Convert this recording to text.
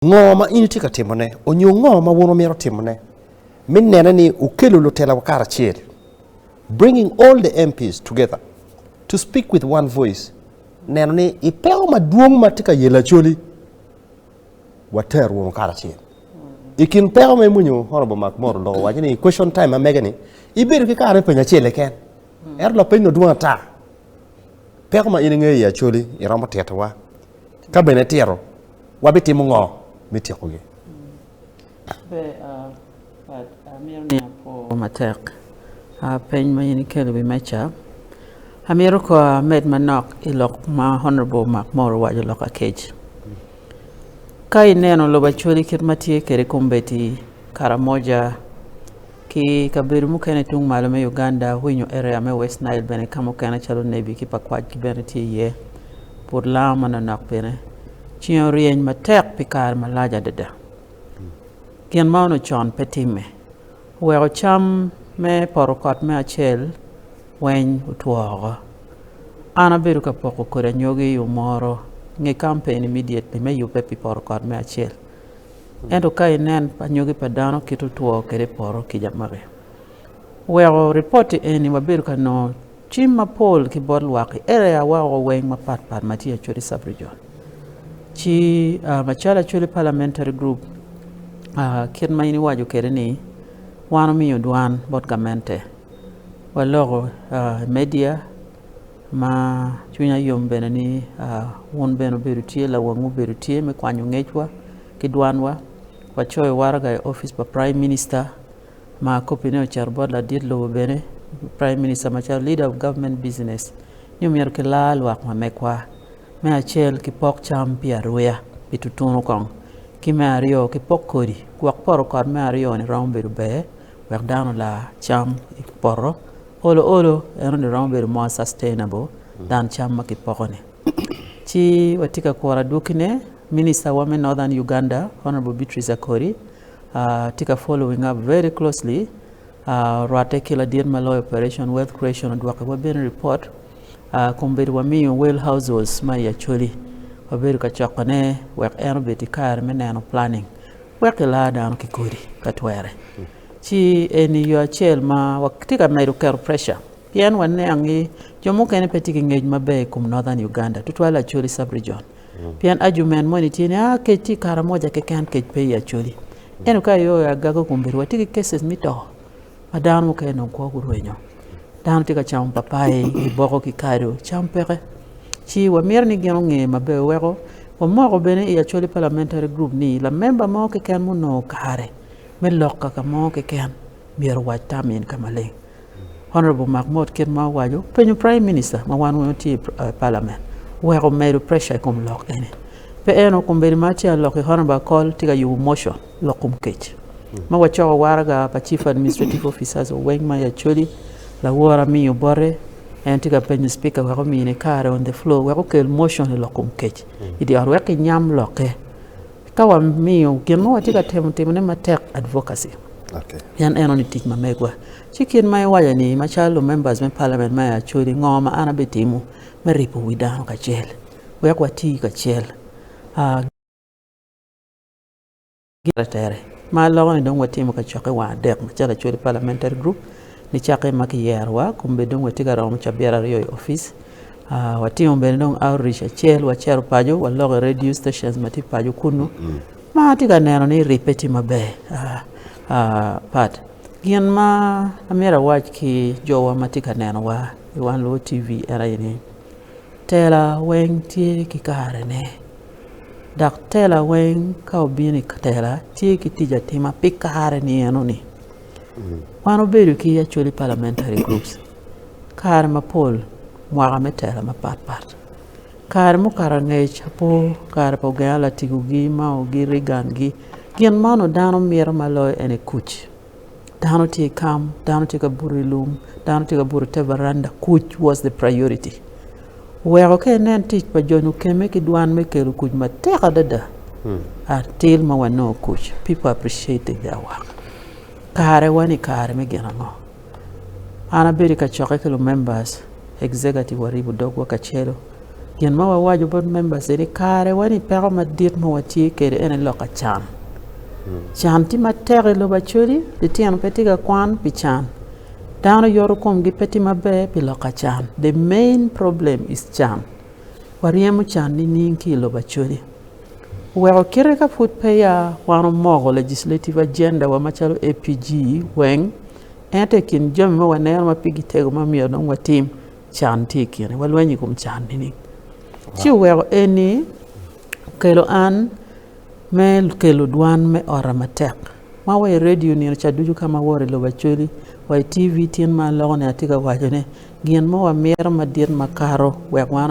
Ngo ma in itye ka timone, onyo ngo ma wun wumito timone me nene ni wukelo lutelawa karacel, bringing all the MPs together to speak with one voice, neno ni i peko madwong ma tye ka yelo Acholi, water wunu karacel. I kin peko ma imwonyo Honorable Mark Moro loko waco ni i question time ma mege ni, ibedo ki kare me penyo acel keken, ento lapeny no dwong ata. Peko ma in ingeyo i Acholi iromo titowa, ka bene itito, wabitimo ngo me tyekogi? Ber Pat, amito ni apwo matek peny ma in ikelo i wi meja. Amito kong amed manok i lok ma Honourable Mark Mor owaco lok akec. Ka ineno lobo Acholi kit ma tye kwede kombeddi, Karamoja, Ki i kabedo mukene tung malo me Uganda, winyo area me West Nile bene ka mukene calo Nebi ki Pakwach ki bene tye iye. Put lango ma nonok bene. Ceng oryeny matek pi kare malac adada. Gin ma ono con pe timme. Oweko cam me poto kot me acel weny otwo oko. An abedo ka poko kodi anyogi i umoro nge kampeni midyet ni me yubbe pi poto kot me acel. Ento ka inen anyogi pa dano kit otwo kede poto kica magi, weko ripoti eni wabedo ka nongo cim mapol ki bot lwak i area wa o weng mapat pat ma tye Acholi Sub-Region. Ci macalo Acholi Parliamentary Group, kit ma in iwaco kede ni wan omiyo dwan bot gamente, waloko i media, Ma cwinya yom bene ni wun bene obedo tye lawang mubedo tye me kwanyo ngecwa ki dwanwa. Wacoyo waraga i opic pa Prime Minister ma kopine ocito bot ladit lobo bene, Prime Minister macalo Leader of Government Business ni omyero kilar lwak ma megwa. Me acel ki pok cam pi aruya pi tutunu kong. Ki me aryo ki pok kodi gwok poto kot me aryo ni romo bedo ber wek dano olar cam i poto. Olo olo eno ni romo bedo more sustainable than cam ma kipoko ni. Ci watye ka kuro adwoki ne minister wa me Northern Uganda Honourable Beatrice Akori tye ka following up very closely rwate ki ladit ma loyo operation wealth creation odwoki wa bene report kun bedo wa miyo well households ma i Acholi wa bedo ka coko ne wek en obed ki kare me neno planning wek ki laa dano ki kodi ka twere. Ci eni yo acel ma watye ka medo keto preca pien waniang ni jo mukene pe tye ki ngec maber i kom Northern Uganda, tutwal Acholi Sub-Region. Pien ajument moni tye ni, aa, kec tye i Karamoja keken, kec pe i Acholi. Ento ka iyo aye agagi okombeddi, watye ki cases me to ma dano mukene dong kwo gurwenyo. Dano tye ka camo papai, giboko ki kado, cam peke. Ci wamito ni gin onge maber weko wamoko bene i Acholi Parliamentary Group ni lamemba mo keken ma onongo kare me loka ka mo keken myero owac tam en ka maleng honorable mak mot kit ma owaco penyo prime minister ma wan weng watye i parliament wek omedo pressure i kom lok eni pe en o kombeddi ma ci alok i honorable akol tye ka yubo motion lok kom kec ma wacoko waraga pa chief administrative officers oweng ma i acholi lawor amii obote en tye ka penyo speaker wek omine kare on the floor wek okel motion i lok kom kec idi ot wek kinyam lokke Ka wamiyo gin ma watye ka temo timone matek advocacy, pien eno ni tic ma megwa, ci kit ma iwaco ni, macalo lumembers me palament ma i Acholi, ngo ma an abitimo me ripo wi dano kacel? Wek wati kacel gin ma tere. Ma aloko ni dong watimo kacokke wang adek macalo Acholi Parliamentary Group, nicakke ma kiyerowa, kombe dong watye ka romo cabit aryo i opic, Watimo bene dong outreach acel wacito paco waloko i radio station ma tye paco kunnu ma atye ka neno ni ribbe tye maber pat gin ma amyero awac ki jowa ma tye ka nenowa i wan lwot TV en aye ni tela weng tye ki karene dok tela weng ka obino i tela tye ki tic atima pi kare ni eno ni wan wabedo ki actually parliamentary groups. kare mapol mwaka me tela mapat pat kare mukato angec apo kare pa ogenga latigo gi ma ogi Reagan gi gin ma onongo dano mito ma loyo en aye kuc dano tye i kam dano tye ka buto i lum dano tye ka buto ite varanda kuc was the priority oweko ka inen tic pa jo mukene ki dwan me kelo kuc matek adada atir ma wanongo kuc people appreciated their work kare wa ni kare me gin ango. An abedo i kacokke ki lumembas, executive waribo dogwa kacelu. Gin ma wawaco bot membas ni kare-wani peko madit ma watye kwede en aye lok ka can. Can tye matek i lobo Acholi, litino pe tye ka kwan pi can, dano yoto komgi pe tye maber pi lok ka can. The main problem is can. Waryemo can nining ki i lobo Acholi? Weko kite ka pud peya wan omoko legislative agenda wa macalo APG weng, ento i kin jami ma waneno ma pigi tego ma myero dong watim, can tye i kine. Walweny i kom can nining? Ci oweko eni okelo an me kelo dwan me ota matek, ma wa i redio nino ca ducu ka ma awoto i lobo Acholi, wa i TV tin ma aloko ni atye ka waco ni gin mo wamito madit makato wek wan